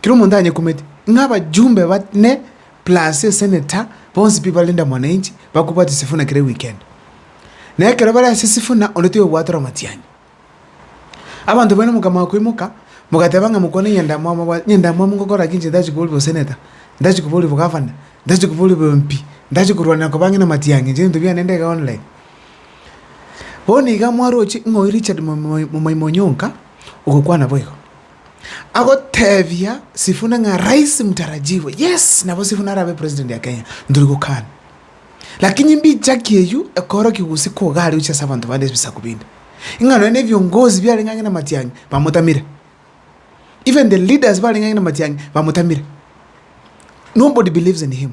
Kera omonto anyekumeti, ng'a abajumbe bane plus eseneta bonsi pi ba Linda Mwananchi bakobwati Sifuna kera eweekend. Na ekero bare ase Sifuna onde toyobwatera omatianyi. Abanto baino mokamanya koimoka mogateba ng'a mokwane nyandamwamu abwate nyandamwamu ngokora ki inche ntachi koboria oboseneta, ntachi koboria obogavana, ntachi koboria obo MP, ntachi korwanera koba ang'e namatiang'i inche ebinto biane ndege online. Bono iga mwaroche ng'oyu Richard Momoimoyo onka ogokwana boigo. Agoteebia Sifuna ng'a rais mtarajiwe, yes, nabo Sifuna arabe president ya Kenya, ntori gokana. Lakini mbichaki eyio ekoorokia gose koga are gochia ase abanto bande ebisaku binde, ing'a nonya na ebiongozi biarenge ang'e na matiang'i bamotamire. Even the leaders barenge ang'e na matiang'i bamotamire. Nobody believes in him.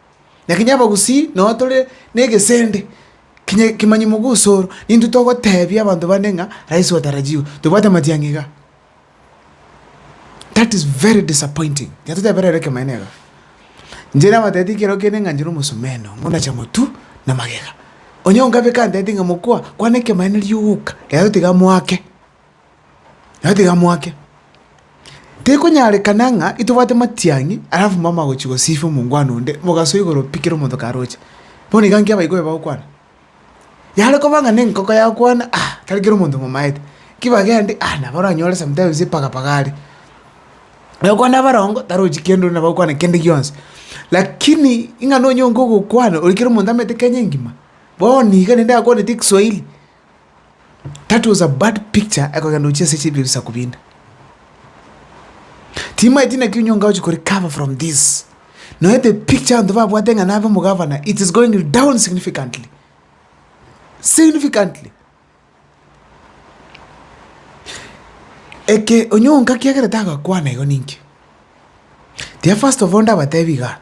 Na kinya abagusii nao tore negesende kinya ekemanyima gwosoro, nintwe togotebia abanto bande ng'a rais watarajiwa, tobwate amatiang'i igaa. That is very disappointing, kinya totebe rero ekemanyererio igaa. Inche nabatebitie kero kende ng'a inche nomosomeno, ngonacha motu na magega. Onye ongabe kantebitie ng'a mokwa, kwana ekemanyererio ogoka, rero tiga moake. Nabo tigamoake. Tikonyarekana ng'a intobwate matiang'i alafu mama agochia gosifi omongwana onde, mogasoa igoro pi kera omonto karoche. Bono iga nki abaibori bagokwana? Yare koba ng'a nenkoko yakwana ah tari kera omonto momaete, ki bagende ah nabo oranyore sometimes epagapaga are. Ogokwana abarongo tarochi kende onde nabo agokwana kende gionsi. Lakini ing'ana onye onge ogokwana oria kera omonto amanyete Kenya engima, bono iga naende akwaneti ekeswahili, That was a bad picture ekogenda gochia ase chibira ebisaku binde. Timaeti naki onye onga gochia ko recover from this. Nonya the picture abanto babwate ng'a nabe omogavana it is going down significantly. Significantly. Eke onye onga kiagera tagakwana igo ninki? Tiga first of all ndabatebi iga,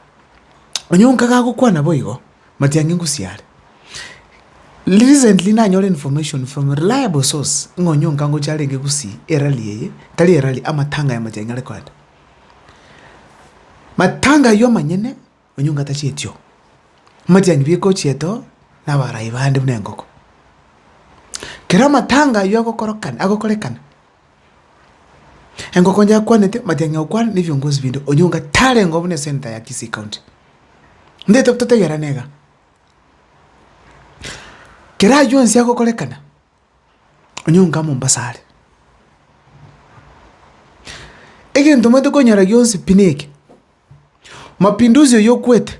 onye onga gagokwana boigo, Matiang'i ngosiare. Recently nanyore information from a reliable source ng'a onye onkangocha arenge gusii erally eye, tari erally, amatanga ya Matiang'i are koenda. Matanga aywo amanyene onye onga tachieti oo. Matiang'i bieka ochiete oo na abarai bande buna engoko. Kero amatanga aywo agokorokana, agokorekana. Engoko inche akwanete amatiang'i aokwana na ebiongozi binde onyonga tarengeo buna esenator ya Kisii county. Ndeto totegerane iga. Kera aywo onsi agokorekana onyonga Mombasa are. Egento omanyete konyora gionsi pi neke, Mapinduzi oyo okwete.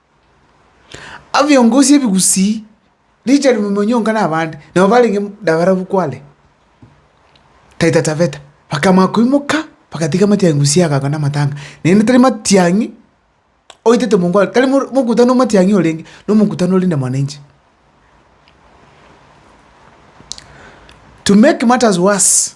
Abiongosi ebigusii richard momonyonga na abande nabo barenge nabarabwo kware taita taveta bakamanya koimoka bagatiga matiang'i gusii agakora na amatanga naende tari matiang'i oitete mongo are tari mor mokutano o matiang'i orenge na omokutano ore na mwananchi. To make matters worse.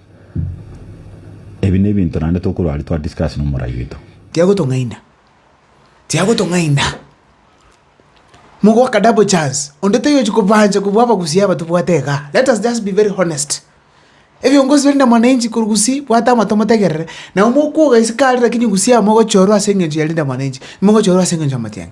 Ebi nebinto naende tokorwa aria twa discuss nomorai oito. Tiagotong'aina, tiagotong'aina. Mogoaka double chance, onde toyochi kobancha kobua abagusii aba tobwate iga. Let us just be very honest. Ebiongozi biri na mwananchi korwa gusii bwata amato motegerere, nabo mokwoga isiko aria lakini gusii aba mogochorwa ase eng'encho yarinde mwananchi, mogochorwa ase eng'encho ya motienyi.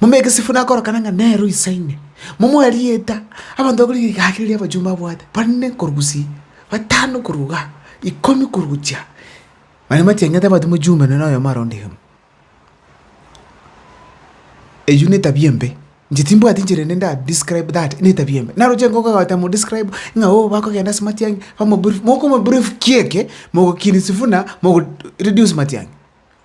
Momanye egesibuna akorokana ng'a nere oisaine, momoe rieta. Abanto bakore rigaki riria abachumba babwate, bane korwa gusii, batano korwa igaa, ikomi korwa gochia, mani matieng'ete abanto mochumbe nonye na oyomo aronde egemu. Eyio na etabia embe, inche timbwati enchera ende nda describe that, na etabia embe. Naroche igo ogoeta mo describe ng'a oo bakogenda ase matiang'i, bamobrief, mokomobrief kiekio, mogokiria sifuna, mogo reduce matiang'i.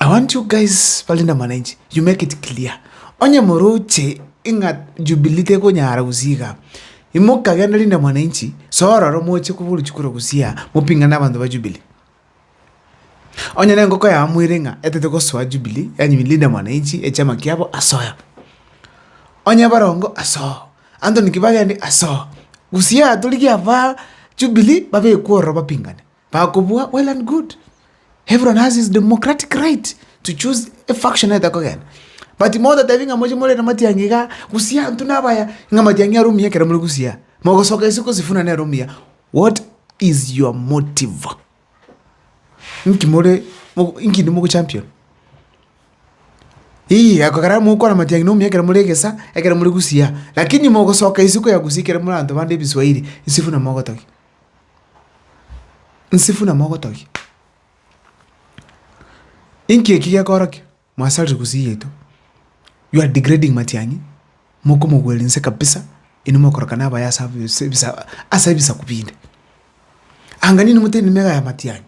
I want you guys barenda mwananchi you make it clear onye moroche ing'a jubilee tekonyara gusii igaa imoka genda linda mwananchi soa ororo moche koba orochi korwa gusii aa mopingane na abanto ba jubilee onye na engoko yao moire ing'a etete gosoa jubilee yaani linda mwananchi echama kiabo asoya onye barongo asoa Anthony kibagende asoa gusii aa torigia abaa jubilee babekwe ororo bapingane. Bakobua well and good, everyone has his democratic right to choose a faction aete kogenda, but motatebie ng'a moche morere matiang'i igaa, gusii antwe nabaya, ng'a matiang'i are omuya ekero more gusii aa, mogosoka ase kosifuna nere omuya, what is your motive? Nki more mo nki nimo champion? Ii ekogera mogokwana matiang'i na omuya ekero more egesaa, ekero more gusii aa, lakini mogosoka isiko ya gusii ekero more abanto bande ebiswahiri, isifuna mogotogia. Nsifuna mogotogia, inki eki gekorokia? Mwasarire gusii yaito, you are degrading matiang'i, mokomogweria inse kabisa, inwe mokoroka na abaye ase ebisaku ase ebisaku binde. Anga ninwe motebi mega ya matiang'i,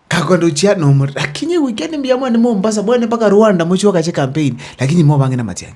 kagoenda gochia nomorero, lakini goika ne mbuya mwane Mombasa, mwane mpaka Rwanda mochie gokache campaign, lakini inwe obang'ina amatiang'i.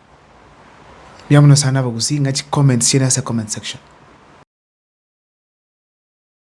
Mbuya mono sana abagusii ng'a chicomments chiaino ase comment section.